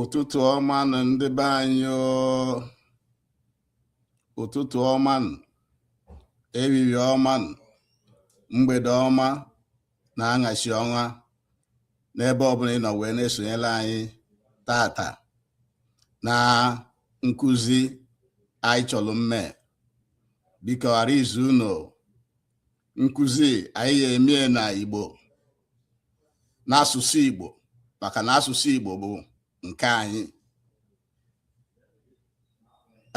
ụtụtụ ọma nụ ndị be anyị ụtụtụ ọma nụ ehihie ọma nụ mgbede ọma na anyasị ọma n'ebe ọbụla ị nọ wee na-esonyere anyị tata na nkụzi anyị chọrọ mme biko ghara izu unu nkụzi anyị ga-emie na Igbo n'asụsụ Igbo maka na asụsụ Igbo bụ nke anyị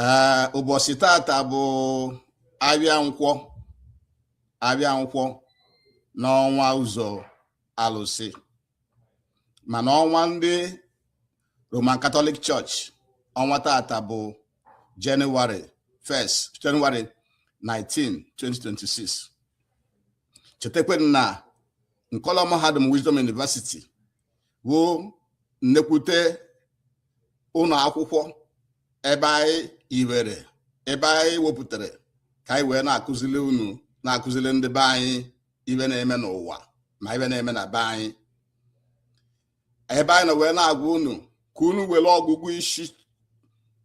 ee ụbọchị tata bụ ahịa nkwọ ahịa nkwọ n'ọnwa ụzọ alụsị mana ọnwa ndị Roman Catholic Church ọnwa tata bụ Jenụwarị 1st Jenụwarị 19 2026 chetakwa na Nkọlọ Mahadum Wisdom University bụ nnekwute ụlọ akwụkwọ ebe anyị iwere ebe anyị wepụtara ka anyị wee na-akụzili unu na-akụzili ndị be anyị ihe na-eme n'ụwa ma ihe na-eme na be anyị ebe anyị nọ wee na-agwa unu ka unu were ọgụgụ isi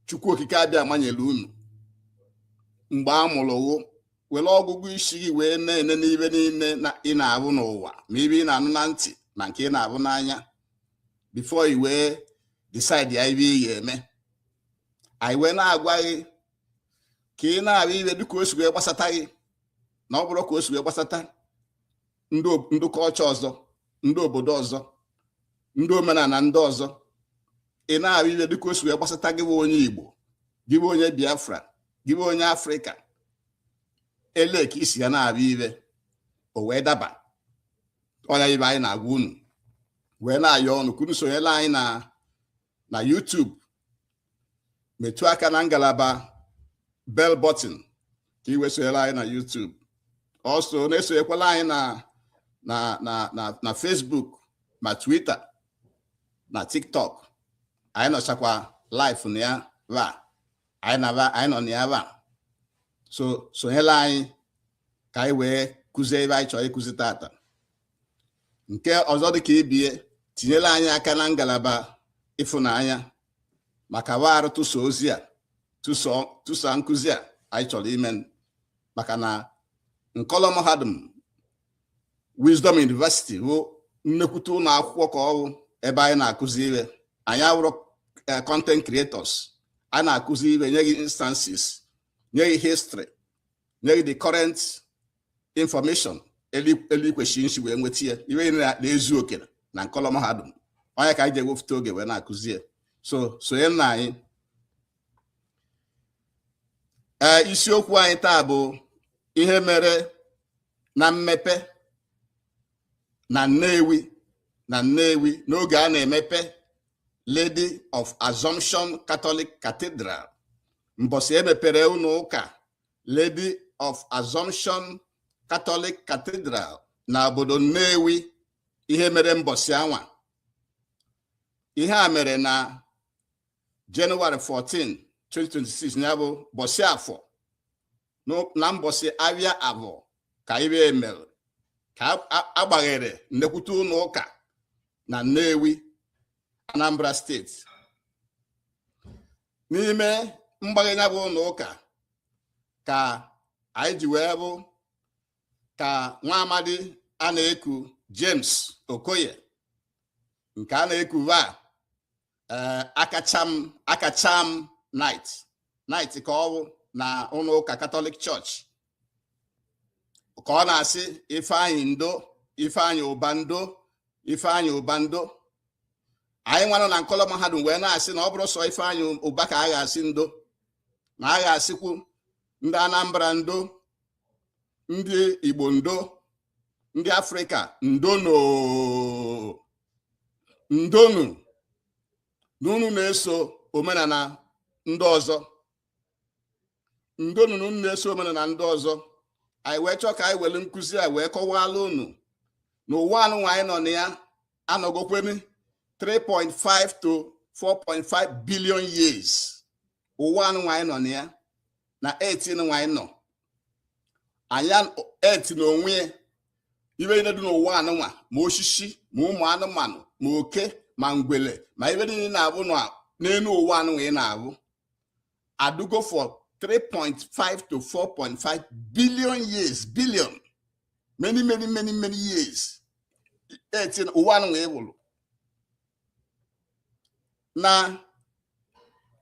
Chukwu Okike Abịama nyere unu mgbe a mụrụ wụ were ọgụgụ isi gị wee na-enene ihe niile ị na-ahụ n'ụwa ma ihe ị na-anụ na ntị ma nke ị na-ahụ n'anya before i wee decide ya ihe ị ga-eme anyị wee na-agwa gị ka ị na-ahụ ihe dịka o si wee gbasata gị na ọ bụrụ ka o si wee gbasata ndị culture ọzọ ndị obodo ọzọ ndị omenala ndị ọzọ ị na-ahụ ihe dịka o si wee gbasata gị bụ onye Igbo gị bụ onye Biafra gị bụ onye Afrịka ele ka i si ya na-ahụ ihe o wee daba ọ ya ihe anyị na-agwa unu wee na-ayọ unu ka unu sonyela anyị na na YouTube metụ aka na ngalaba bell button ka ị wee sonyere anyị na YouTube also na-esonyekwala anyị na na na na na Facebook ma Twitter na TikTok anyị nọchakwa live na ya va anyị na va anyị nọ na ya va so sonyela anyị ka anyị wee kụzie ihe anyị chọrọ ịkụzi tata nke ọzọ dị ka ị bịa tinyere anyị aka na ngalaba ịfụnanya maka warụ tụsa ozi a tụsa nkụzi a anyị chọrọ ime maka na nkọlọ mahadum Wisdom University bụ nnekwute ụlọ akwụkwọ ka ọ wụ ebe anyị na-akụzi ihe anyị awụrụ eh, content creators a na-akụzi ihe nye gị instances nye gị history nye gị the current infọmeshọn etu i kwesịrị isi wee nweta ya i wee na-ezu oke na nkọlọ mahadum ọ ya ka anyị ji ewepụta oge wee na-akụzi ya so sonye na anyị ee eh, isiokwu anyị taa bụ ihe mere na mmepe na Nnewi na Nnewi n'oge a na-emepe Lady of Assumption Catholic Cathedral mbọsị e mepere ụnọ ụka Lady of Assumption Catholic Cathedral na obodo Nnewi ihe mere mbọsị anwa ihe a mere na Jenụwarị 14 2026 ya bụ ụbọsị afọ na mbọsị ahịa afọ ka ihe a mere ka a gbaghere nnekwute ụnọ ụka na Nnewi Anambra steeti n'ime mgbaghe ya bụ ụnọ ụka ka anyị ji wee hụ ka nwa amadi a na-eku James Okoye nke a na-eku va eh, Akacham Akacham knight knight ka ọ bụ na ụnọ ụka Katọlik chọọchị ka ọ na-asị Ifeanyị ndo Ifeanyị Ụba ndo Ifeanyị Ụba ndo anyị nwanụ na nkọlọ mahadum wee na-asị na ọ bụrọ sọ Ifeanyị Ụba ka a ga-asị ndo na a ga-asịkwu ndị Anambra ndo ndị Igbo ndo ndị Afrịka ndonụ ndonụ na unu na-eso omenana ndị ọzọ ndonụ na unu na-eso omenana ndị ọzọ anyị wee chọọ ka anyị were nkụzi a wee kọwaala unu na ụwa anụnwa anyị nọ na ya anọgokwerị 3.5 to 4.5 billion years ụwa anụnwa anyị nọ na ya na earth nụnwa anyị nọ na ya earth na onwe ya ihe niile dị n'ụwa anụnwa ma osisi ma ụmụ anụmanụ ma oke ma ngwele ma ihe niile na-ahụ n'elu ụwa anụnwa ị na-ahụ adịgo for 3.5 to 4.5 billion years billion many many many many years earth ụwa anụ wee wụrụ na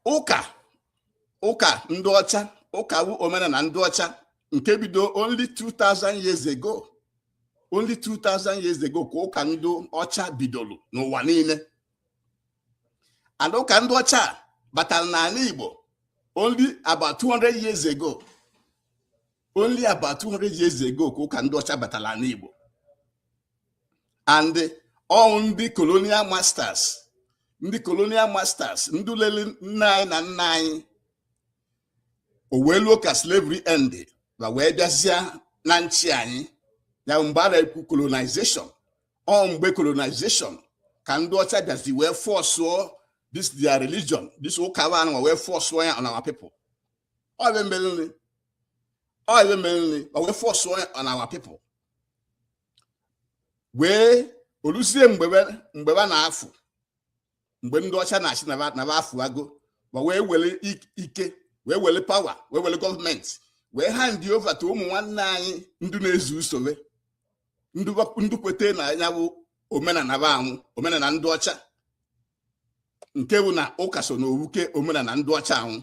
ụka ụka ndị ọcha ụka wu omenana ndị ọcha nke bido only 2000 years ago only 2000 years ago ka ụka ndị ọcha bidoro n'ụwa niile and ụka ndị ọcha batara n'ala Igbo only about 200 years ago only about 200 years ago ka ụka ndị ọcha batara n'ala Igbo and ọ wụ ndị colonial masters ndị colonial masters ndị lele nna anyị na nna anyị o wee luo ka slavery end ba wee bịazịa na-achị anyị ya mgbe a na-ekwu colonization ọ mgbe colonization ka ndị ọcha bịazi wee fọsụọ this their religion this ụka ba anụnwa wee fọsụọ ya on our people ọ ibe mereni ọ ibe mereni ba wee fọsụọ ya on our people wee o luzie mgbe ba- mgbe ba na-afụ mgbe ndị ọcha na-asị na ba afụago ba wee were ike wee were power wee were gọọmenti wee hand over to ụmụ nwanne anyị ndị na-ezu usoro ndị kweta na ya bụ omenala ba anwụ omenala ndị ọcha nke bụ na ụka so na owuke omenala ndị ọcha anwụ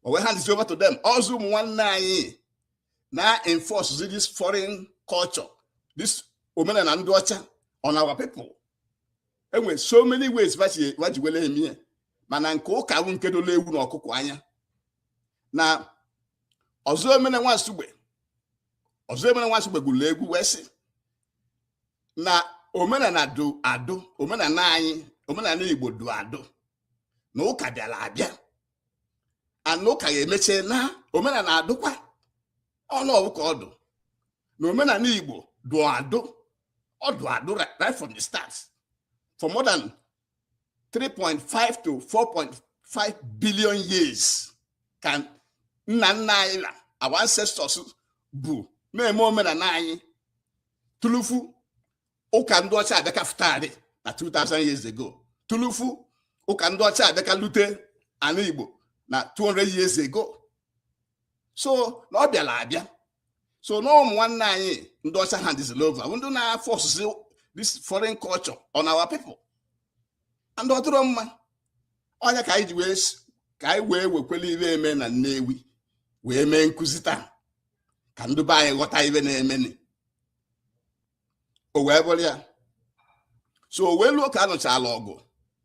o wee hand over to them ọ zị ụmụ nwanne anyị na-enforce this foreign culture this omenala ndị ọcha on our people e nwere so many ways va ji wele emie mana nke ụka bụ nke dola ewu na ọkụkọ anya na Ọzọemena nwa Nsugbe Ọzọemena nwa Nsugbe gụrụ egwu wee sị na omenala dụ adụ omenala anyị omenala Igbo dụ adụ na ụka bịara abịa and na ụka ga-emeche na omenala adụkwa ọnụ ọ bụ ka ọ dụ na omenala Igbo dụ adụ ọ dụ adụ right from the start for more than 3.5 to 4.5 billion years ka nna nna anyị na our ancestors bụ na-eme omenala anyị tulufu ụka ndị ọcha abịa ka fụtarị na 2000 years ago tulufu ụka ndị ọcha abịa ka lute ala Igbo na 200 years ago so na ọ bịara abịa so na ụmụ nwanne anyị ndị ọcha handịzila over ndị na-afọsụ this foreign culture on our people and ọ dịrọ mma ọ ya ka anyị ji wee ka anyị wee wekwele ibe eme na Nnewi wee mee nkụzi taa ka ndị be anyị ghọta ibe na-emeni o wee bụrụ ya so o wee luo ka a nụchala ọgụ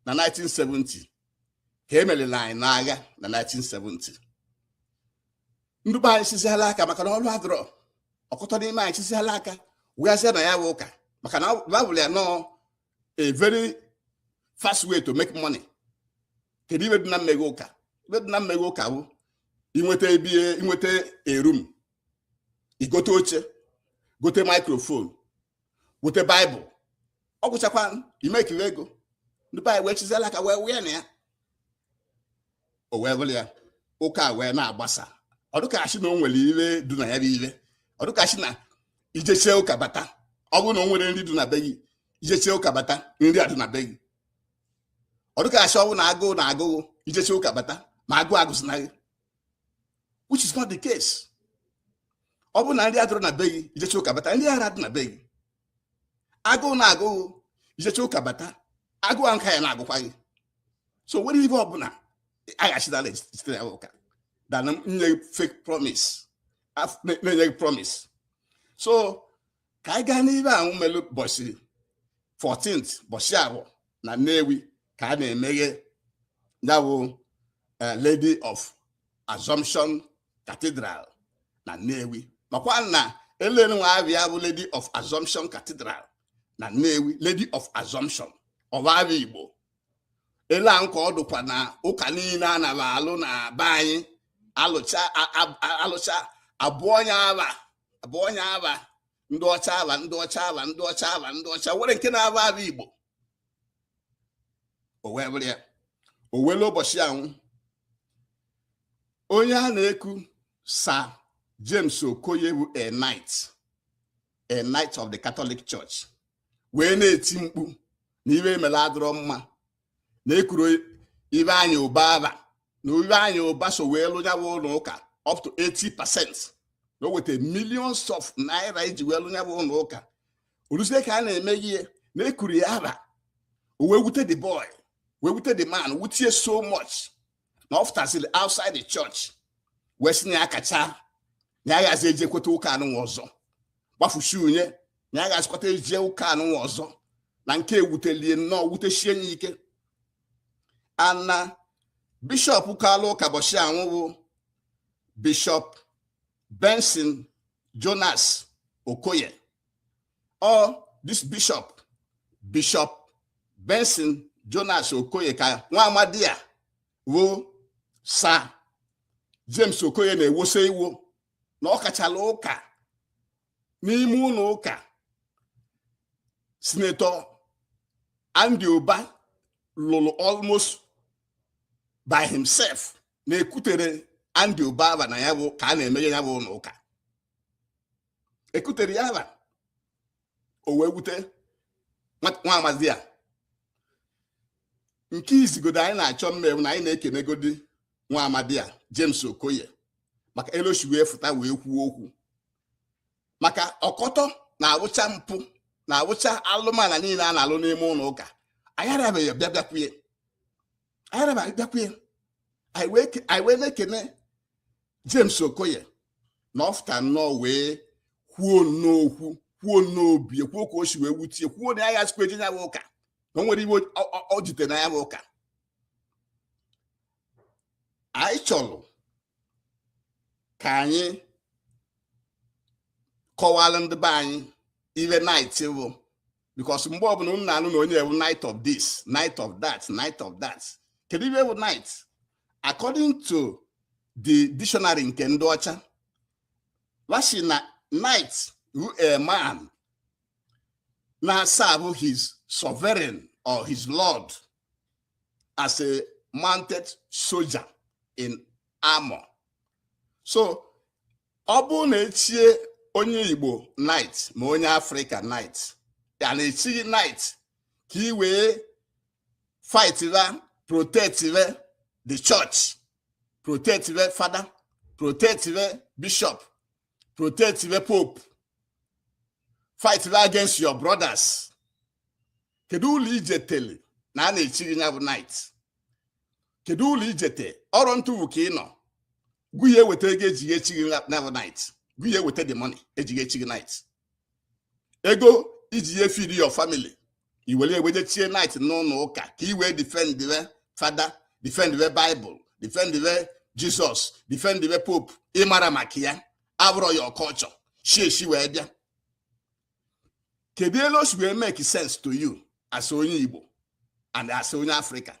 na 1970 ka e merila anyị n'agha na 1970 ndị be anyị chisiala aka maka na ọrụ adịrọ ọtụtụ n'ime anyị chisiala aka wee bazie na ya bụ ụka maka na ba fụlụ ya na ọ a very fast way to make money kedu ibe dị na mmeghe ụka ibe dị na mmeghe ụka bụ inweta ebe inweta a room i gote oche gote maikrofon gote baịbụl ọ gwụchakwa imekiri ego ndị be anyị wee chiziela aka wee wee na ya o wee bụrụ ya ụka wee na-agbasa ọ dụ ka a sị na o nwere ive dụ na ya bụ ive ọ dụ ka a sị na i jechie ụka bata ọ bụrụ na o nwerọ nri dụ na be gị i jechie ụka bata nri adụ na be gị ọ dụ ka a sị ọ bụ na agụụ na-agụ gị i jechie ụka bata ma agụụ agụzịna gị which is not the case ọ bụrụ na nri adịrọ na be gị i jechie ụka bata nri ara-adị na be gị agụụ na-agụ ghụ i jechie ụka bata agụụ ahụ ka ya na-agụkwa gị so o nwerọ ive ọbụla aghachidala site na ụka than na-enye fake promise na-enye gị promise so ka anyị gaa n'ive ahụ melu bọchị 14th bọchị ahụ na Nnewi ka a na-emeghe ya bụ eh, Lady of Assumption Cathedral na Nnewi makwa na elere nwa ava ya bụ Lady of Assumption Cathedral na Nnewi Lady of Assumption ọ bụ ava Igbo ele a nke ọ dụkwa na ụka niile a na-alụ na be anyị a lụcha a lụcha a bụọ ya ava bụọ ya ava ndị ọcha ava ndị ọcha ava ndị ọcha ava ndị ọcha o nwerọ nke a na-aba ava Igbo o wee bụrụ ya o wee lue ụbọchị anwa onye a na-eku Sir James Okoye bụ a knight a knight of the Catholic Church wee na-eti mkpu na ive e melu adịrọ mma na ekurọ Ifeanyi Ubah ava na Ifeanyi Ubah so wee lụ ya bụ ụlọ ụka up to 80 percent na o weta millions of naira iji wee lụ ya bụ ụlọ ụka o luzie ka a na-emeghe na ekurọ ya ava o wee wute the boy wee wute the man wutie so much na ọ fụtasịrị outside the church wee si na ya kacha na ya aghazi ejekwata ụka anụnwa ọzọ gbafusi unye na ya aghazikwata eje ụka anụnwa ọzọ na nke ewutelie nnọọ wutesie ya ike ana bishọp kalụ ụka bọchị anwa bụ bishọp Benson Jonas Okoye ọ this bishọp bishọp Benson Jonas Okoye ka nwa amadi a wụ Sir James Okoye na-ewoso iwo na ọ kachala ụka n'ime ụlọ ụka Senator Andy Uba lụrụ almost by himself na ekuterọ Andy Uba ava na ya bụ ka a na-emeghe ya bụ ụlọ ụka ekuterọ ya ava o wee wute nwa amadi a nke izigodo anyị na-achọ ime wụ na anyị na-ekenegodi nwa amadi a James Okoye maka elu o shi wee fụta wee kwuo okwu maka ọkọtọ na-awụcha mpụ na-awụcha alụmala niile a na-alụ n'ime ụlọ ụka anyị arabeghị bịa bịakwuye anyị na anyị bịakwa ya anyị wee na-ekene James Okoye na ọ fụta nnọọ wee kwuo n'okwu kwuo n'obi kwuo ka o si wee wute e kwuo na ya ghazikwa eje ya bụ ụka na o nwere ibe ọ jite na ya bụ ụka anyị chọrọ ka anyị kọwara ndị be anyị ihe knight bụ because mgbe ọbụla unu na-anụ na onye a wụ knight of this knight of that knight of that kedu ibe wụ knight according to the dictionary nke ndị ọcha wa shi na knight wụ a man na-aserve his sovereign or his lord as a mounted soldier in armor so ọ bụrụ na e chie onye igbo knight ma onye afrịka knight a na-echi gị knight ka ị wee fightịa protectie the church protectie fada protectie bishop protectie pope fightịa against your brothers kedu uru i jetele na a na-echi gị ya bụ knight kedu uru i jete ọrụ ntụwu ka ị nọ gụnye weta ego e ji echi gị ya bụ knight gụnye weta the money e ji echi gị knight ego i ji ya efeed your family i were e wee je chie knight n'ụlọ ụka ka i wee defendie fada defendie bible defendie jesus defendie pope ị marọ maka ya abụrọ your culture shi ezi wee bịa kedu elu o si wee make sense to you as onye igbo and as onye afrịka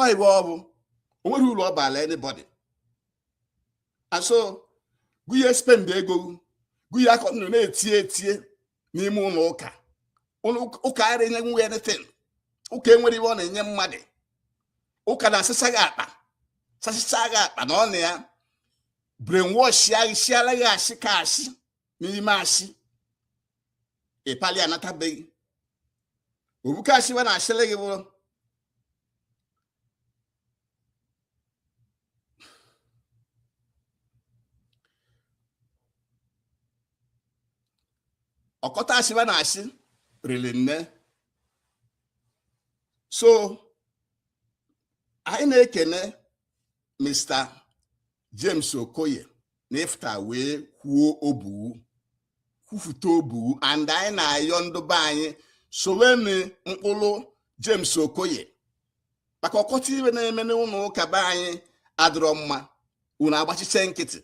ọ ibe ọ bụ o nweghị uru ọ baala anybody and so gụnye spend ego gụnye akọ ndụ na-etie etie n'ime ụlọ ụka ụka ara enyenwu anything ụka enwerọ ibe ọ na-enye mmadụ ụka na-asasa gị akpa sasa gị akpa na ọ na ya brainwashịa gị sịara gị asị ka asị n'ime asị ịpali anatabeghị ọ bụ ka asị wa na-asịrị gị bụrụ ọkọtọ asị wa na-asị riri nne so anyị na-ekene mr James Okoye na ịfụta wee kwuo obuwu kwufute obuwu and anyị na-ayọ ndị be anyị soweni ụkpụrụ James Okoye maka ọkọtọ ibe na-eme n'ụlọ ụka be anyị adịrọ mma unu agbachiche nkịtị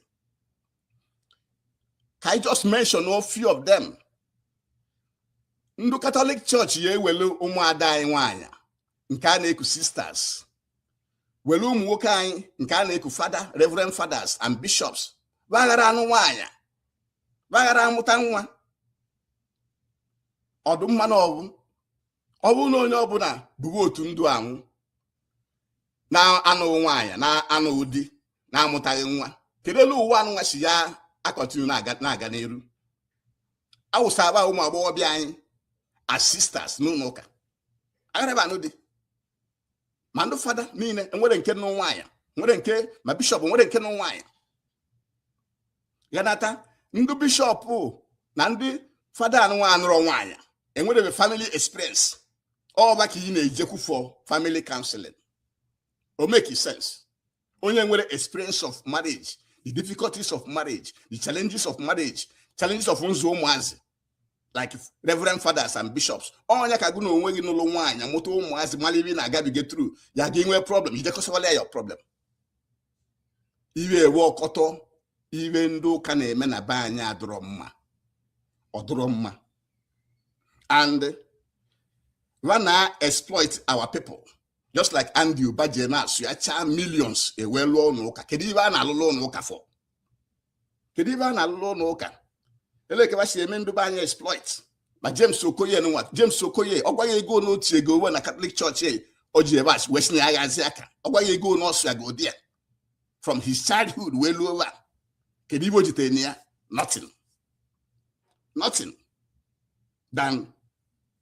ka anyị just mention a few of them ndị Catholic Church ya ewelu ụmụada anyị nwanyị nke a na-eku sisters were ụmụ nwoke anyị nke a na-eku fada reverend fathers and bishops ba ghara anụ nwaanyị ba ghara amụta nwa ọ dụ mma na ọ bụ ọ bụrụ na onye ọbụla bụrụ otu ndị anwụ na-anụghị nwaanyị na-anụghị di na-amụtaghị nwa kedu elu ụwa anụnwa si ya acontinue na-aga n'iru a wụsa agba ụmụ agbọghọ be anyị as sisters n'ụlọ ụka agharaba anụ di ma ndị fada niile enwerọ nke nụ nwaanyị enwerọ nke ma bishọp enwerọ nke nụ nwaanyị ghanata ndị bishọp na ndị fada anụnwa anụrọ nwaanyị enwerọ family experience ọ ba ka ị na-ejekwu for family counseling o make sense onye enwerọ experience of marriage the difficulties of marriage the challenges of marriage challenges of nzụ ụmụazị like reverend fathers and bishops onye ka gụ na onwe gị nụlụ nwaanyị mụta ụmụazị mara ibe na-agabiga through ya ka i nwee problem i jekwu ọ solve ala ya problem iwe ewe ọkọtọ ibe ndị ụka na-eme na be anyị adịrọ mma ọ dịrọ mma and wa na-exploit our people just like Andy Uba ji na-asụ ya chaa millions ewee lụọ ụlọ ụka kedu ibe a na-alụlụ ụlọ ụka for kedu ibe a na-alụlụ ụlọ ụka eleke ba si eme ndị be anyị exploit ma James Okoye nwa James Okoye ọ gwa gị ego n'otu ego uwe na Catholic Church e, o ji ebe a wee si na ya ghazi aka ọ gwa gị ego n'ọsụ ya godi ya from his childhood wee luo ugbu a kedu ibe o jitere na ya nothing nothing than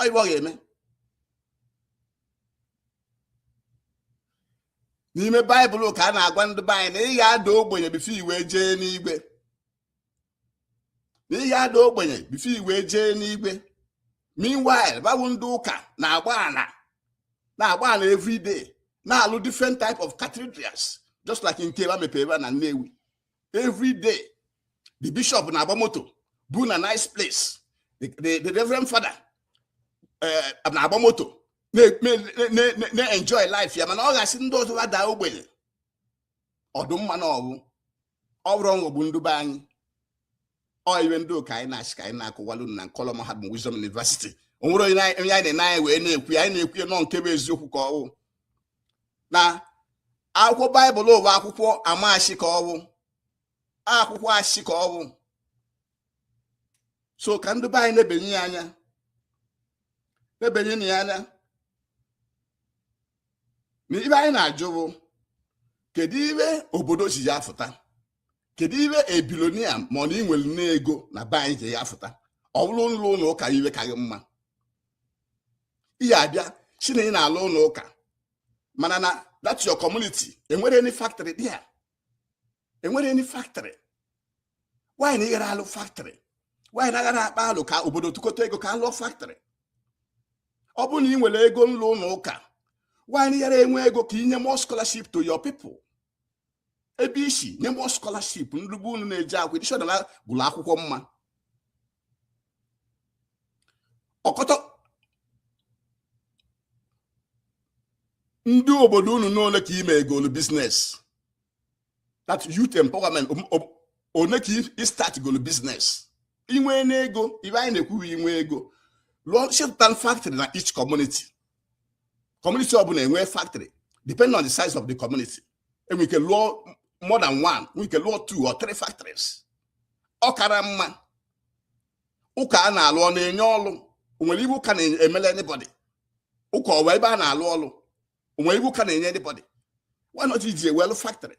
ọ ibe ọ ga-eme n'ime baịbụl ka a na-agwa ndị be anyị na ị ga-ada ogbenye before i wee jee n'igwe na ị ga-ada ogbenye before i wee jee n'igwe meanwhile ba bụ ndị ụka na-agba ana na-agba ana everyday na-alụ different type of cathedrals just like nke ba mepere ebe a na Nnewi every day the bishop na-agba moto bu na nice place the, the, the reverend father eh, na-agba moto na-enjoy life ya mana ọ ga-asị ndị ọzọ ha daa ogbenye ọ dụ mma na ọ wụ ọ bụrụ nghọgbu ndị be anyị ọ iwe ndị ụka anyị na-asị ka anyị na-akọwalụ unu na nkọlọ mahadum Wisdom University o nwerọ onye anyị na-ene anya wee na-ekwu ya anyị na-ekwu ya na ọ nke bụ eziokwu ka ọwụ na akwụkwọ baịbụl ụwa akwụkwọ ama asị ka ọwụ akwụkwọ asị ka ọwụ so ka ndị be anyị na-ebenye ya anya na-ebenye na ya anya na iwe anyị na-ajụ bụ kedu iwe obodo ọzọ ji ya fụta kedu iwe a billionaire ma ọ na inwere n'ego na be anyị ji ya fụta ọ bụrụ nlụ ụnọ ụka iwe ka gị mma ị ya-abịa sị na ị na-alụ ụnọ ụka mana na that your community enwere any factory dị ya enwere any factory why na ịghara alụ factory why na aghara akpa alụ ka obodo tụkọta ego ka alụọ factory ọ bụrụ na ị nwere ego nlụ ụnọ ụka why na ịghara enwe ego ka inye more scholarship to your people ebe isi nye more scholarship ndị be unu na-eji akwụ edishọnal gụrụ akwụkwọ mma ọkọtọ ndị obodo unu na one ka i megolu business like youth empowerment one ka ị startgolu business inwe n'ego iwe anyị na-ekwu wụ inwe ego lụsepụta factory na each community community ọbụla enwee factory depending on the size of the community enwere ike lụọ more than one nwere ike lụọ two or three factories ọ kara mma ụka a na-alụ ọ na-enye ọlụ onwere iwe ụka na-emele anybody ụka ọ wụ ebe a na-alụ ọlụ onwere iwe ụka na-enye anybody why not iji ya wee lụ factory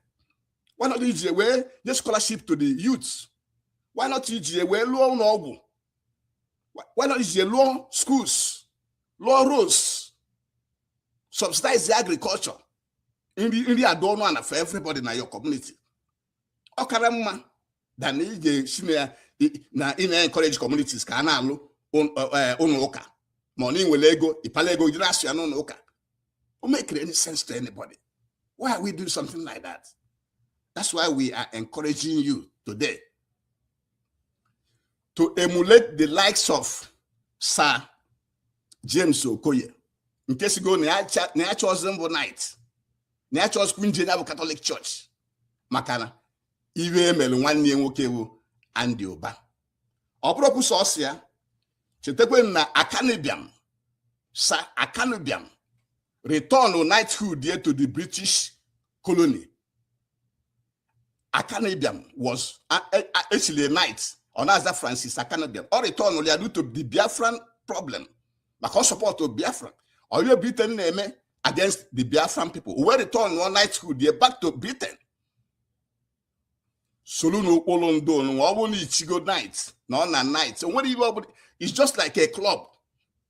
why not iji ya wee nye scholarship to the youth why not iji ya wee lụọ ụnọ ọgwụ why not iji lụọ schools lụọ roads subsidize agriculture nri nri adị ọnụ ana for everybody na your community ọ kara mma than ị ga-asị na ị na-encourage communities ka a na-alụ ụnọ ụka ma ọ na ịnwere ego ịpala ego jiri asụ ya n'ụnọ ụka o mekere any sense to anybody why are we doing something like that that's why we are encouraging you today to emulate the likes of Sir James Okoye nke sịgo na ya achọzi mbụ knight na ya achọzikwu nje ya bụ Catholic Church maka na iwe emere nwanne ya nwoke bụ Andy Uba ọ bụrọkwu sọsọ ya chetakwanụ na Akanu Ibiam Sir Akanu Ibiam return knighthood ya to the British colony Akanu Ibiam was actually a knight ọ na-aza Francis Akanu Ibiam ọ returnụlụ ya due to the Biafran problem maka ọ support Biafran war Britain na-eme against the Biafran people wee returnụọ knighthood ya back to Britain soronu ụkpụlụ ndị onụnwa ọ bụrụ na i chigo knight na ọ na knight o nwere ibe ọ bụ it's just like a club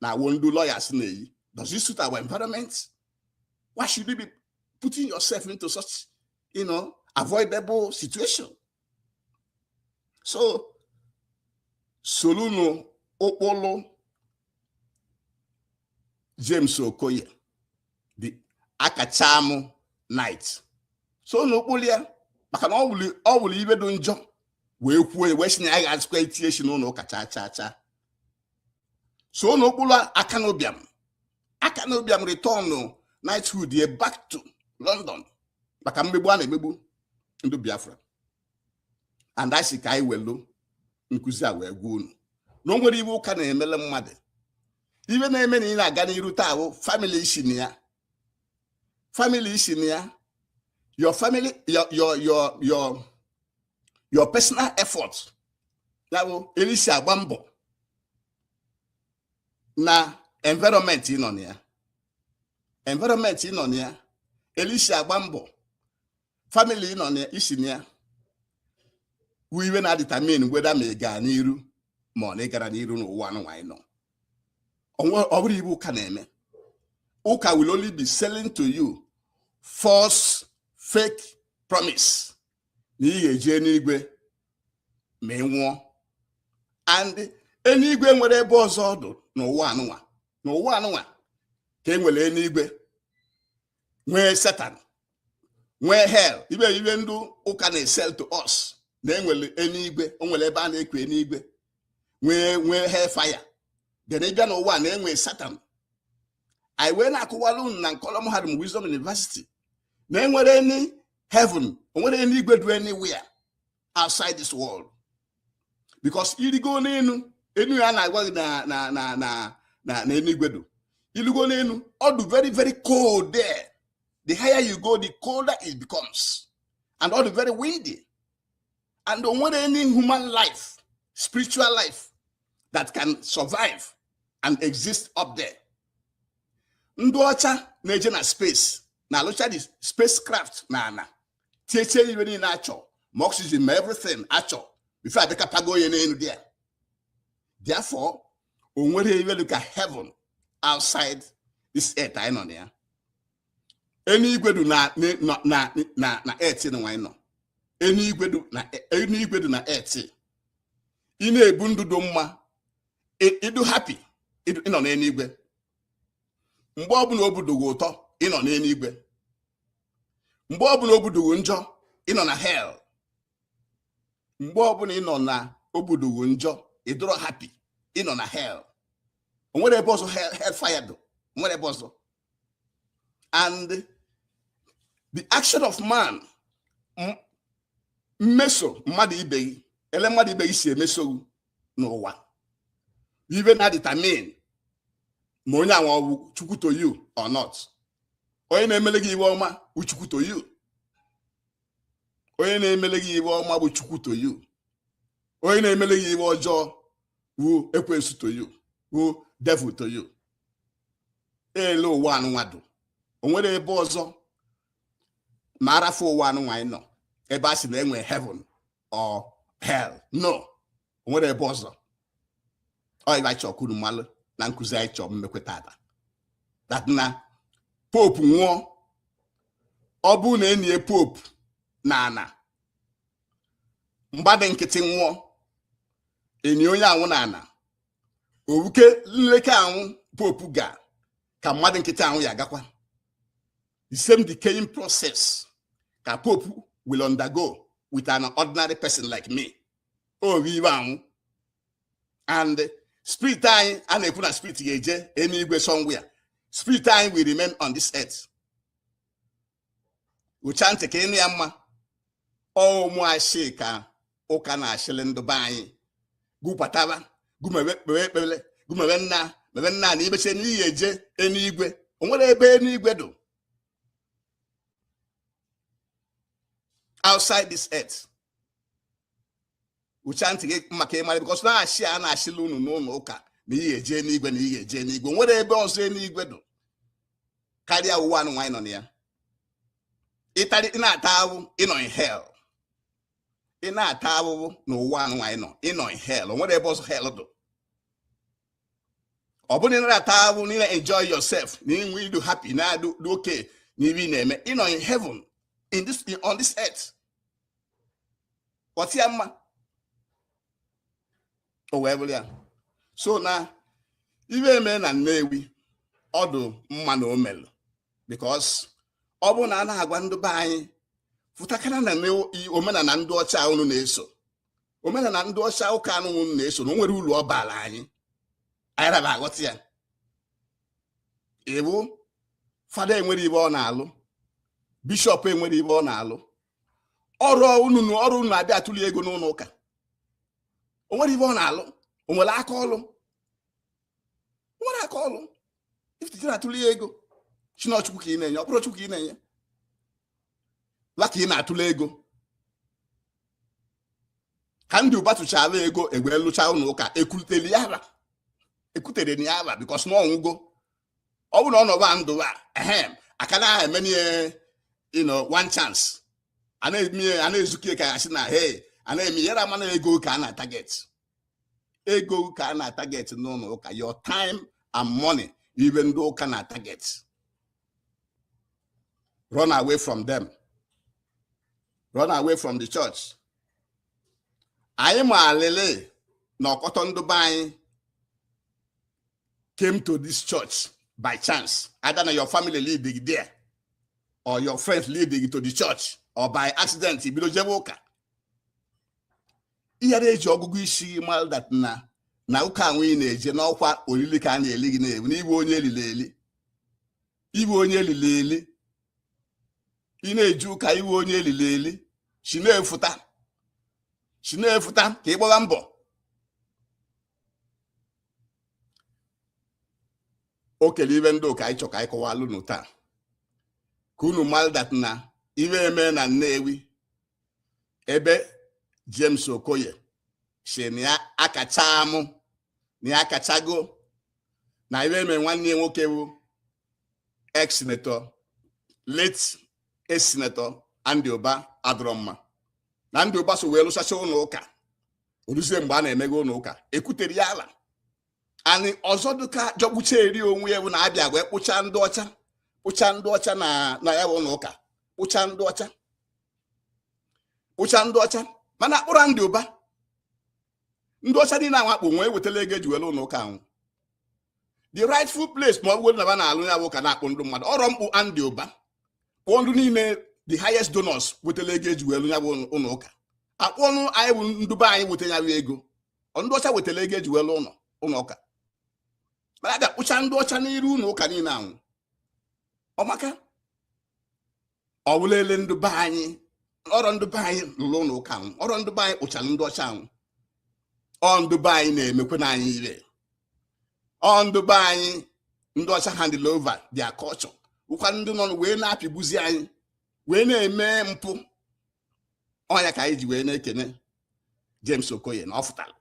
na one ndị lawyers na-eyi does it suit our environment why should you be putting yourself into such you know avoidable situation so solunu ụkpụlụ James Okoye the akachamu knight sonu ụkpụlụ ya maka na ọ wụrụ ibe dị njọ wee kwuo wee si na ya agazịkwa itinye isi n'ụlọ ụka chaa chaa chaa sonu ụkpụlụ Akanu Ibiam Akanu Ibiam retọnụ knighthood ye back to London maka mmegbu a na-emegbu ndị Biafra and a sị ka anyị welu nkụzi a wee gwa unu na o nwere iwe ụka na-emele mmadụ ibe na-eme na ị na-aga n'iru taa wụ family i si na ya family i si na ya your family your your your your your personal effort ya bụ erisi agba mbọ na environment ị nọ na ya environment ị nọ na ya elisi agba mbọ family ị nọ na i si na ya wụ iwe na-adetermine whether ma ị gaa n'iru ma ọ na ị gara n'iru n'ụwa anụnwa anyị nọ ọ bụrọ iwe ụka na-eme ụka will only be selling to you false fake promise na ị ga-eje enuigwe ma ị nwụọ and enuigwe enwere ebe ọzọ ọ dụ n'ụwa anụnwa n'ụwa anụnwa ka e nwere enuigwe nwee satan nwee hell ibe ibe ndị ụka na-esell to us na e nwere enuigwe o nwere ebe a na-ekwu enuigwe nwee nwee hell fire then ị bịa n'ụwa na enwe satan anyị wee na-akụwara unu na nkọrọ mahadum Wisdom University na enwere any heaven o nwere enuigwe dụ anywhere outside this world because i rigo n'enu enu a na-agwa gị na na na na na enuigwe dụ i rigo n'enu ọ dụ very very cold there the higher you go the colder it becomes and ọ dụ very windy and o nwere any human life spiritual life that can survive and exist up there ndị ọcha na-eje na space na-alụcha the spacecraft na ana tiechie iwe niile a chọ ma oxygen ma everything a chọ before adịka pago onye n'enu there therefore o nwere iwe dụ ka heaven outside this earth anyị nọ na ya eluigwe dị na na na na earth anụnwa anyị nọ eluigwe dị na eluigwe dị na earth ị na-ebi ndụ dị mma ị dụ happy ị nọ n'eluigwe mgbe ọbụla obi dụ gị ụtọ ị nọ n'eluigwe mgbe ọbụla obi dụ gị njọ ị nọ na hell mgbe ọbụla ị nọ na obi dụ gị njọ ị dụrọ happy ị nọ na hell o nwere ebe ọzọ hell fire dị o nwere ebe ọzọ and the action of man mmeso mmadụ ibe gị ele mmadụ ibe gị si emeso gị n'ụwa ive na-determine ma onye anwa ọ wụ chukwu to you or not onye na-emele gị ive ọma wụ chukwu to you onye na-emele gị ive ọma wụ chukwu to you onye na-emele gị ive ọjọọ wụ ekwensu to you wụ devil to you ele ụwa anụnwa dụ o nwere ebe ọzọ ma a rafụ ụwa anụnwa anyị nọ ebe a sị na e nwe heaven or hell no o nwerọ ebe ọzọ ọ ive anyị chọọ ka unu malụ na nkụzi anyị chọọ imekwe taata that na pope nwụọ ọ bụrụ na e nie pope n'ana mmadụ nkịtị nwụọ e nie onye anwụ n'ana ọ wụkwa nleka anwụ pope ga ka mmadụ nkịtị anwụ ya-agakwa the same decaying process ka pope will undergo with an ordinary person like me ọ ive anwụ and spirit anyị a na-ekwu na spirit ga-eje eluigwe somewhere spirit anyị will remain on this earth ucha ntị ka ị nụ ya mma ọ wụ ashị ka ụka na-ashịlị ndụ be anyị gụ bataba gụ mebe kpewe ekpere gụ mebe nna mebe nna na i meche na i ye-eje eluigwe o nwerọ ebe eluigwe dụ outside this earth ucha ntị gị maka ị mara because na ashị a na-ashịlị unu n'ụlọ ụka na i ye-eje enigwe na i ye-eje enigwe o nwere ebe ọzọ enigwe dụ karịa ụwa anụnwa anyị nọ na ya ịtarị na-ata ahụhụ ị nọ in hell ị na-ata ahụhụ n'ụwa anụnwa anyị nọ ị nọ in hell nwere ebe ọzọ hell dụ ọ bụrụ na ị narọ ata ahụhụ na ị na-enjoy yourself na i nwe ị dụ happy na-adụ okay n'ihe ị na-eme ị nọ in heaven in this on this earth ghọta ya mma o wee bụrụ ya so na ive e me na Nnewi ọ dụ mma na o melụ because ọ bụrụ na a na-agwa ndị be anyị fụtakana na omenala ndị ọcha unu na-eso omenala ndị ọcha ụka anwụ unu na-eso na o nwerọ uru ọ baala anyị anyị raba aghọta ya ịbụ fada enwerọ ive ọ na-alụ bishọp enwerọ ive ọ na-alụ ọrọ unu ọrọ na unu abịa atụli ya ego n'ụnọ ụka o nwerọ ive ọ na-alụ o nwerọ aka ọlụ o nwerọ aka ọlụ ifititi na-atụli ego si na ọ Chukwu ka ị na-enye ọ bụrọ Chukwu ka ị na-enye wa ka ị na-atụle ego ka Andy Uba tụchala ego e wee lụcha ụnọ ụka ekwuterọ ya ava ekwuterọ na ya ava because na ọ nwụgo ọ bụrụ na ọ nọba ndụ a ehem a ka na-eme ihe you know one chance a na-eme ihe a na-ezuke ka ya sị na hey a na-eme ya ara ama na ego ka a na target ego ka a na target n'ụnọ ụka your time and money ive ndị ụka na target run away from them run away from the church anyị malịlị na ọkọtọ ndụba anyị came to this church by chance, either na your family lead gị there or your friends lead gị to the church or by accident i bido jebe ụka ị ara eji ọgụgụ isi malụ that na na ụka anwụ ị na-eje na ọ kwa olili ka a na-eli gị na ọ wụ na ị wụ onye elili eli ị wụ onye elili eli ị na-eje ụka ị wụ onye elili eli si na ya fụta si na ya fụta ka ị gbara mbọ o kele ive ndị a ka anyị chọ ka anyị kọwalụ unu taa ka unu malụ that na ive e me na Nnewi ebe James Okoye si na ya akacha amụ na ya akachago na ive e me nwanne ya nwoke bụ ex-senator late ex-senator Andy Uba adọrọ mma na Andy Uba so wee lụsacha ụnọ ụka o ruzie mgbe a na-emeghe ụnọ ụka ekwuterọ ya ava and ọzọ dịka jọgbucharị onwe ya bụ na a bịa wee kpụcha ndị ọcha kpụcha ndị ọcha na ya bụ ụnọ ụka kpụcha ndị ọcha kpụcha ndị ọcha mana akpụrọ Andy Uba ndị ọcha niile anwụ a kpụ wa ewetala ego eji wee lụ ụnọ ụka anwụ the rightful place ma ọ bụrụ na ba na-alụ ya bụ ka na-akpụ ndụ mmadụ ọrọ mkpụ Andy Uba kpụọ ndụ niile the highest donors wetala ego eji wee lụ ya bụ ụnọ ụka akpụọ na anyị bụ ndụba anyị weta ya bụ ego ndị ọcha wetara ego eji wee lụ ụnọ ụka mana a bịa kpụcha ndị ọcha n'iru ụnọ ụka niile anwụ ọ maka ọ bụla ele ndụ be anyị ọrọ ndụ be anyị lụrụ ụlọ ụka anwụ ọrọ ndụ be anyị kpụchara ndị ọcha anwụ ọ ndụ be anyị na-emekwana anyị ire ọ ndụ be anyị ndị ọcha handụlụ over their culture ọ kwa ndị nọrọ wee na-apịgbuzi anyị wee na-eme mpụ ọ nya ka anyị ji wee na-ekene James Okoye na ọ fụtara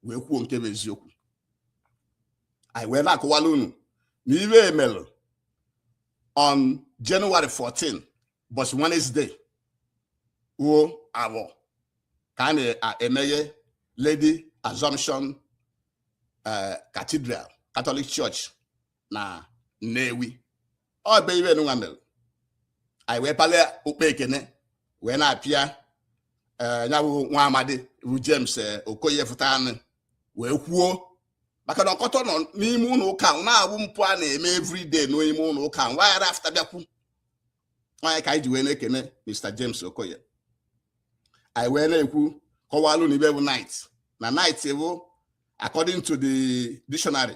wee kwuo nke bụ eziokwu anyị wee na-akọwalụ unu na ive e melụ on January 14 bọchị Wednesday wụ Afọ ka a na-emeghe Lady Assumption eh, Cathedral Catholic Church na Nnewi ọ bụ ive nwa mere anyị wee palịa okpu ekene wee na-apịa eh, ya bụ nwa amadi bụ James eh, Okoye fụtanụ wee kwuo maka na ọkọtọ nọ n'ime ụlọ ụka ma na ọ bụ mpụ a na-eme everyday n'ime ụlọ ụka ma wa ara afụta bịa kwuo ọ nya ka anyị ji wee na-ekene Mr James Okoye anyị wee na-ekwu kọwalụ unu ive bụ Knight na Knight bụ according to the dictionary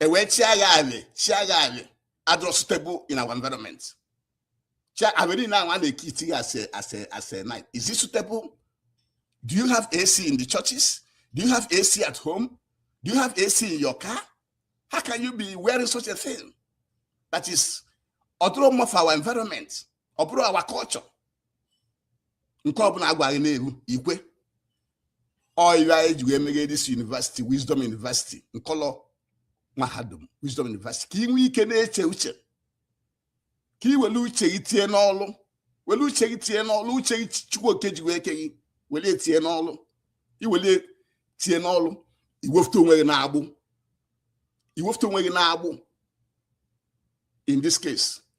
e wee chịa yalị chịa yalị adọrọ suitable in our environment chịa alị niile ahụ a na-eke iti ya as a as a as a Knight is it suitable do you have AC in the churches do you have AC at home do you have AC in your car how can you be wearing such a thing that is ọ dọrọ mma for our environment ọ bụrọ our culture nke ọbụla a gwa gị na-eru i kwe ọ ya e ji wee meghe this university wisdom university m kpọlọ mahadum wisdom university ka ị nwee ike na-eche uche ka ị were uche gị tinye n'ọlụ were uche gị tinye n'ọlụ uche gị Chukwu Oke ji wee ke gị were tinye n'ọlụ i were tinye n'ọlụ i wefụta onwe gị n'agbụ i wefụta onwe gị n'agbụ in this case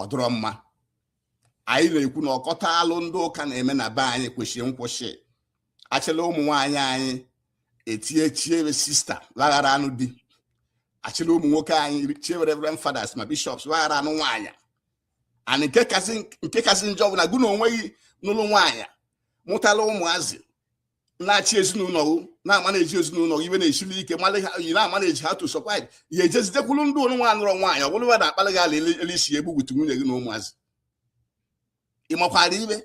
ọ dịrọ mma anyị na-ekwu na ọkọtọ alụ ndị ụka na-eme na be anyị kwesịrị nkwụsị a chịla ụmụ nwaanyị anyị etinye chie wa sister wa ghara anụ di a chịla ụmụ nwoke anyị chie wa reverend fathers ma bishops wa ghara anụ nwaanyị and nke kasị njọ bụ na gụ na onwe gị nụlụ nwaanyị mụtala ụmụazị na-achị ezinụlọ gị na-amanage ezinụlọ gị ive na-esili ike mana ị na-amanage ha to survive ya ejezi jekwuru ndị ụrụ nwa anụrọ nwaanyị ọ bụrụ na akpalị gị ala ele isi ya egbugbutu nwunye gị na ụmụazị ị makwara ive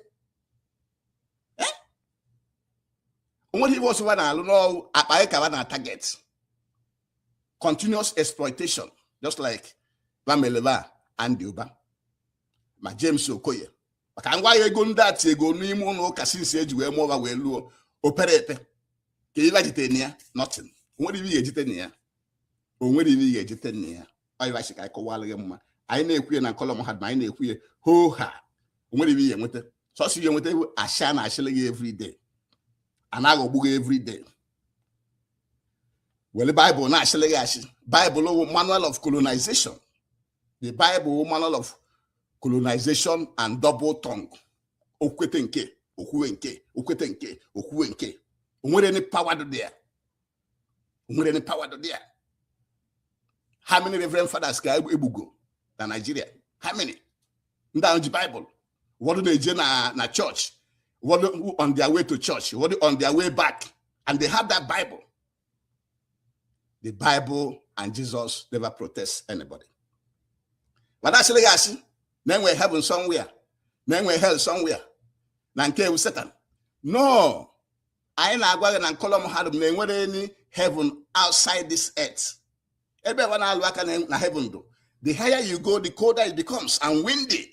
o nweghị ive ọzọ wa na-alụ n'ọrụ akpa gị ka wa na-target continuous exploitation just like wa melụ Ifeanyi Uba ma James Okoye ka m gwa ya ego ndị a tiego n'ime ụnọ ụka since e ji wee mụọ ba wee luo opere epe kee ibe ba jite na ya nothing o nwerọ ibe ga-ejite na ya o nwerọ ibe ga-ejite na ya ọyịba si ka anyị kọwara gị mma anyị na-ekwu ya na nkọlọ mahadum anyị na-ekwu ya hoo haa o nwerọ ibe ị ya-enweta sọsọ ya enweta wụ ashị a na-ashịlị gị everyday a na-aghọgbu gị everyday were bible na-ashịlị gị ashị bible wụ manual of colonization the bible wụ manual of colonization and double tongue o kwute nke a o kwuo nke a o kwute nke a o kwuo nke a o nwerọ any power dị ya o nwerọ any power dị ya how many reverend fathers ka egbugo na Nigeria how many ndị ahụ ji bible ụfọdụ na-eje na na church ụfọdụ on their way to church ụfọdụ on their way back and they have that bible the bible and jesus never protect anybody ba na-asịlị gị asị na e nwe heaven somewhere na e nwe hell somewhere na nke a wụ satan no anyị na-agwa gị na nkọlọ mahadum na e nwerọ any heaven outside this earth ebe ba na-alụ aka na heaven dụ the higher you go the colder it becomes and windy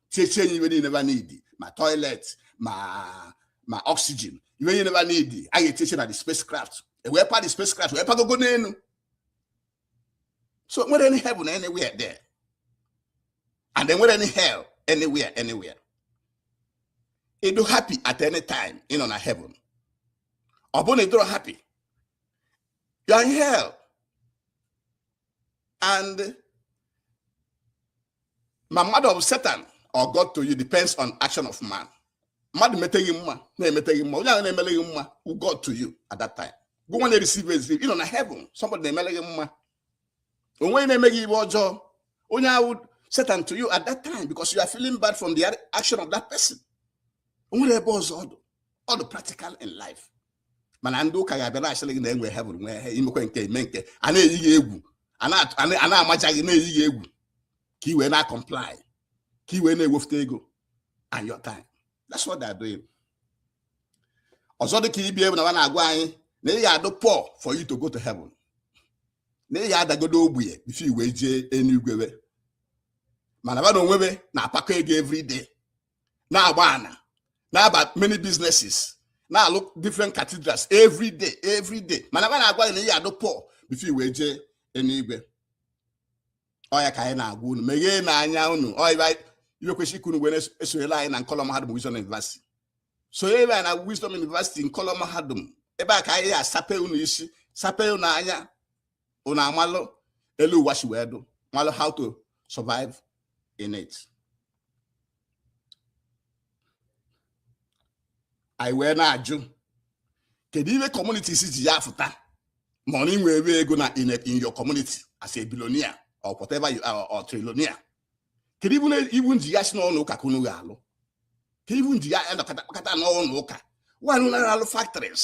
tiechie nye ibe niile ba need ma toilet ma ma oxygen ibe niile ba need a ga-etieche na the spacecraft e wee pa the spacecraft wee pagogo n'enu so e nwerọ any heaven anywhere there and e nwerọ any hell anywhere anywhere ị dụ happy at any time ị nọ na heaven ọ bụrụ na ị dụrọ happy you are in hell and ma mmadụ ọ bụ satan or God to you depends on action of man mmadụ mete gị mma na-emete gị mma onye ahụ na-emele gị mma wụ God to you at that time gị nwa na-ereceive ezi ive ị nọ na heaven somebody na-emele gị mma onye na-eme gị ibe ọjọọ onye ahụ wụ satan to you at that time because you are feeling bad from the action of that person o nwerọ ebe ọzọ ọ dụ ọ dụ practical in life mana ndị ụka ga-abịa na-ashịrị gị na e nwe heaven nwee hell i mekwe nke a i me nke a na-eyi gị egwu a na-amaja gị na-eyi gị egwu ka i wee na-acomply ka i wee na-ewefuta ego and your time that's what they're doing ọzọ dị ka ibe wụ na ba na-agwa anyị na ị ga-adụ poor for you to go to heaven na ị ga-adagodo ogbenye before i wee jee enuigwe mana ba na onwe ba na-apakọ ego every day na-agba ana na-aba many businesses na-alụ different cathedrals every day every day mana ba na-agwa gị na ị ya-adụ poor before i wee jee enuigwe ọ ya ka anyị na-agwa unu megheenụ anya unu ibe kwesịrị ka unu wee sonyere anyị na nkọlọ mahadum Wisdom University sonyere anyị na Wisdom University nkọlọ mahadum ebe a ka anyị asape unu isi sape unu anya unu amalụ elu ụwa si wee dụ malụ how to survive in it anyị wee na-ajụ kedu ihe communities ji ya afụta ma ọ na i nwee ego na in your community as a billionaire or whatever you are or trillionaire kedu ive unu ji ya asị na ụnọ ụka ka unu ga-alụ kedu ive unu ji ya anọkọta kpakọta n'ụnọ ụka nwanụ na-alụ factories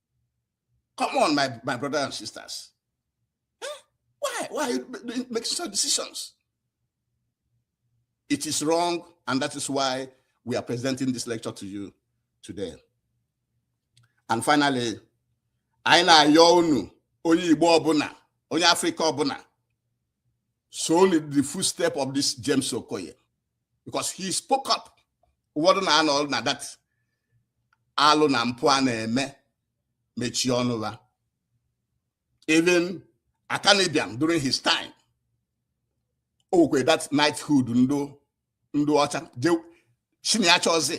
Come on, my, my brothers and sisters. Huh? Why? Why are you making such decisions? It is wrong, and that is why we are presenting this lecture to you today. And finally, anyị na-ayọ unu onye Igbo ọbụla onye Afrịka ọbụla so the footstep of this James Okoye because he spoke up ụfọdụ na-anọrọ na that alụ na mpụ a na-eme mechie ọnụ ha even Akanu Ibiam during his time o were that knighthood nye ndụ ọcha sị na ya achọọzị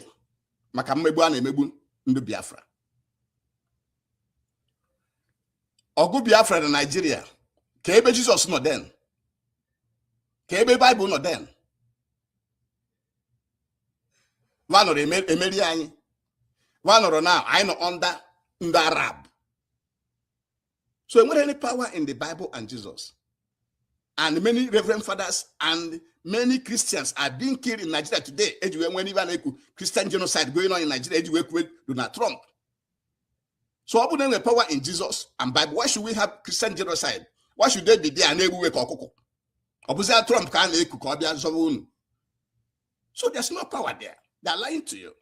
maka mmegbu a na-emegbu ndụ Biafra ọgụ biafra na nigeria ka ebe jesus nọ then ka ebe bible nọ then va anọrọ emeri anyị va anọrọ na anyị nọ under ndị arab so enwerọ any power in the bible and jesus and many reverend fathers and many christians are being killed in nigeria today e ji wee nwee ive a na-ekwu christian genocide going on in nigeria e ji wee kuwe donald trump so ọ bụrụ na enwere power in Jesus and Bible why should we have Christian genocide why should they be there a na-egbu we ka ọkụkọ ọ bụzịa Trump ka a na-eku ka ọ bịa zọba unu so there's no power there they're lying to you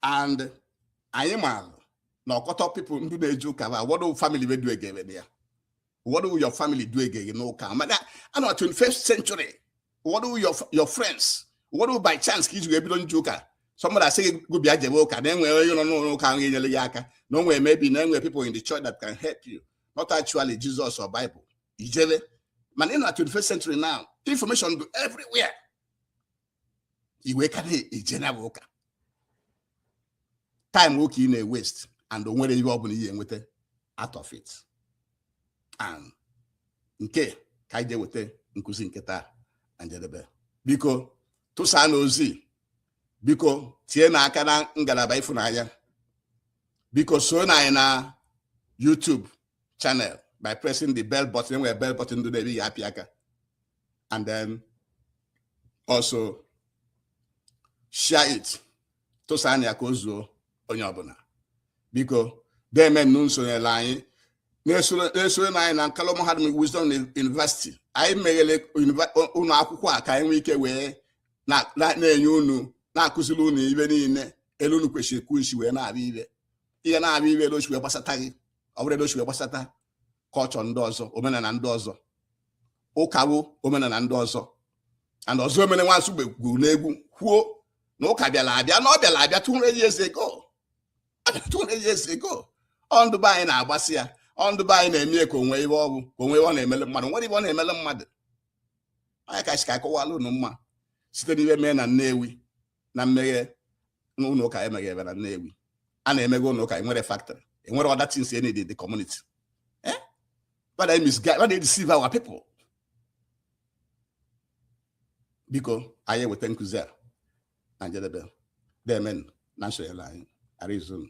and anyị maara na ọkọtọ people ndị na-eje ụka ba ụfọdụ family we duga we ya ụfọdụ bụ your family duga gị you know ka maka a na 21st century ụfọdụ your friends ụfọdụ by chance ka i ji wee bido nje ụka somebody asị gị gụ bịa jebe ụka na enwere onye nọ n'ụlọ ụka ahụ enyere ya aka na o nwere maybe na enwere people in the church that can help you not actually Jesus or Bible i jebe mana ị na 21st century now information dụ everywhere i wee ka na-eje na ụka time gị ka ị na-ewaste and o nwerọ ihe ọ bụla ị ya-enweta out of it and nke a ka anyị ga-eweta nkụzi nke taa na njedebe biko tụsaa na ozi biko tie na aka na ngalaba ịfụnanya biko soro na anyị na YouTube channel by pressing the bell button enwere bell button dụ n'ebe ị ya-apịa aka and then also share it tụsaanụ ya ka o zuo onye ọbụla biko demenụ na-esonyere anyị na-esoro na anyị na nkalụ mahadum wisdom university anyị meghere ụlọ akwụkwọ a ka anyị nwee ike wee na-enye unu na-akụziri unu ive niile elu unu kwesịrị ka unu si wee na-abịa ive ị ya na-abịa ive elu o si wee gbasata gị ọ bụrụ elu o si wee gbasata culture ndị ọzọ omenala ndị ọzọ ụka bụ omenala ndị ọzọ and Ọzọemena nwa Nsugbe gụrụ n'egwu kwuo na ụka bịara abịa na ọ bịara abịa 200 years ago 200 years ago ọ ndị be anyị na-agbasi ya ọ ndị be anyị na-eme ya ka o nwe ihe ọ bụ ka o nwe ihe ọ na-emele mmadụ nwere ihe ọ na-emele mmadụ onye ka si ka akọwala unu mma site n'ihe mee na Nnewi na mmeghe ụlọ ụka emeghere na Nnewi a na-emeghe ụlọ ụka enwere factory enwere other things in the community eh why they misguide why they deceive our people biko anyị eweta nkụzi a na njedebe deemenụ na nsonyere anyị arizona